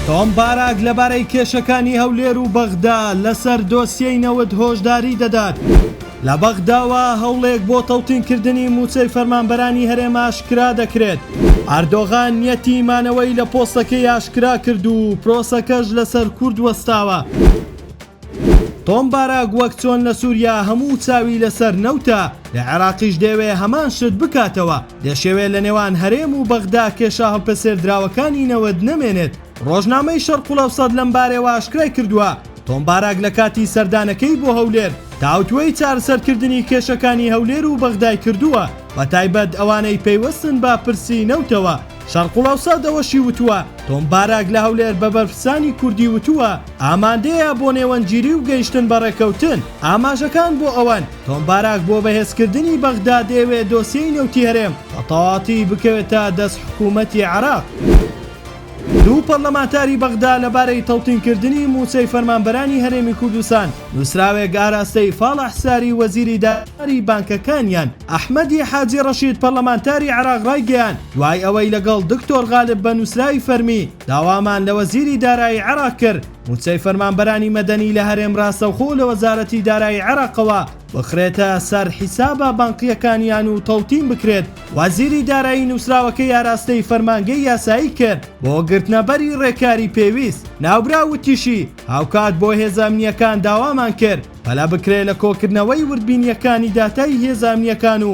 تۆم باراک لەبارەی کێشەکانی هەولێر و بەغدا لەسەر دۆسیەی نەوت هۆشداری دەدات لە بەغداوە هەوڵێک بۆ تەوتینکردنی مووچەی فەرمانبەرانی هەرێم ئاشکرا دەکرێت. ئەردۆغان نیەتی مانەوەی لە پۆستەکەی ئاشکرا کرد و پرۆسەکەش لەسەر کورد وەستاوە. تۆم باراک وەک چۆن لە سوریا هەموو چاوی لەسەر نەوتە، لە عێراقیش دەیەوێ هەمان شت بکاتەوە، دەشیەوێ لە نێوان هەرێم و بەغدا کێشە هەڵپەسێردراوەکانی نەوت نەمێنێت. رۆژنامەی شەرقلەوسەت لەم بارەیەوە ئاشکرای کردووە، تۆم باراک لە کاتی سەردانەکەی بۆ هەولێر تاوتوێی چارەسەرکردنی کێشەکانی هەولێر و بەغدای کردووە، بەتایبەت ئەوانەی پەیوەستن بە پرسی نەوتەوە. شەرقلەوسەت ئەوەشی وتووە، تۆم باراک لە هەولێر بە بەرپرسانی کوردی وتووە، ئامادەیە بۆ نێوەندگیری و گەیشتن بە ڕێککەوتن. ئاماژەکان بۆ ئەوەن، تۆم باراک بۆ بەهێزکردنی بەغدا دەیەوێت دۆسیەی نەوتی هەرێم بە تەواوەتی بکەوێتە دەست حکوومەتی عێراق. دوو پەرلەمانتاری بەغدا لەبارەی تەوتینکردنی مووچەی فەرمانبەرانی هەرێمی کوردستان، نووسراوێک ئاراستەی فاڵح ساری وەزیری دارایی بانکەکانیان. ئەحمەدی حاجی ڕەشید پەرلەمانتاری عێراق ڕایگەیاند، دوای ئەوەی لەگەڵ دکتۆر غالب بە نووسراوی فەرمی، داوامان لە وەزیری دارایی عێراق کرد مووچەی فەرمانبەرانی مەدەنی لە هەرێم راستەوخۆ لە وەزارەتی دارایی عێراقەوە بخرێتە سەر حیسابە بانقییەکانیان و تەوتین بکرێت، وەزیری دارایی نووسراوەکەی ئاراستەی فەرمانگەی یاسایی کرد بۆ گرتنەبەری رێکاری پێویست. ناوبراو وتیشی، هاوکات بۆ هێزە ئەمنییەکان داوامان کرد پەلە بکرێت لە کۆکردنەوەی وردبینییەکانی داتای هێزە ئەمنییەکان و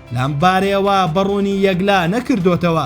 لەم بارەیەوە بە ڕوونی یەکلا نەکردۆتەوە.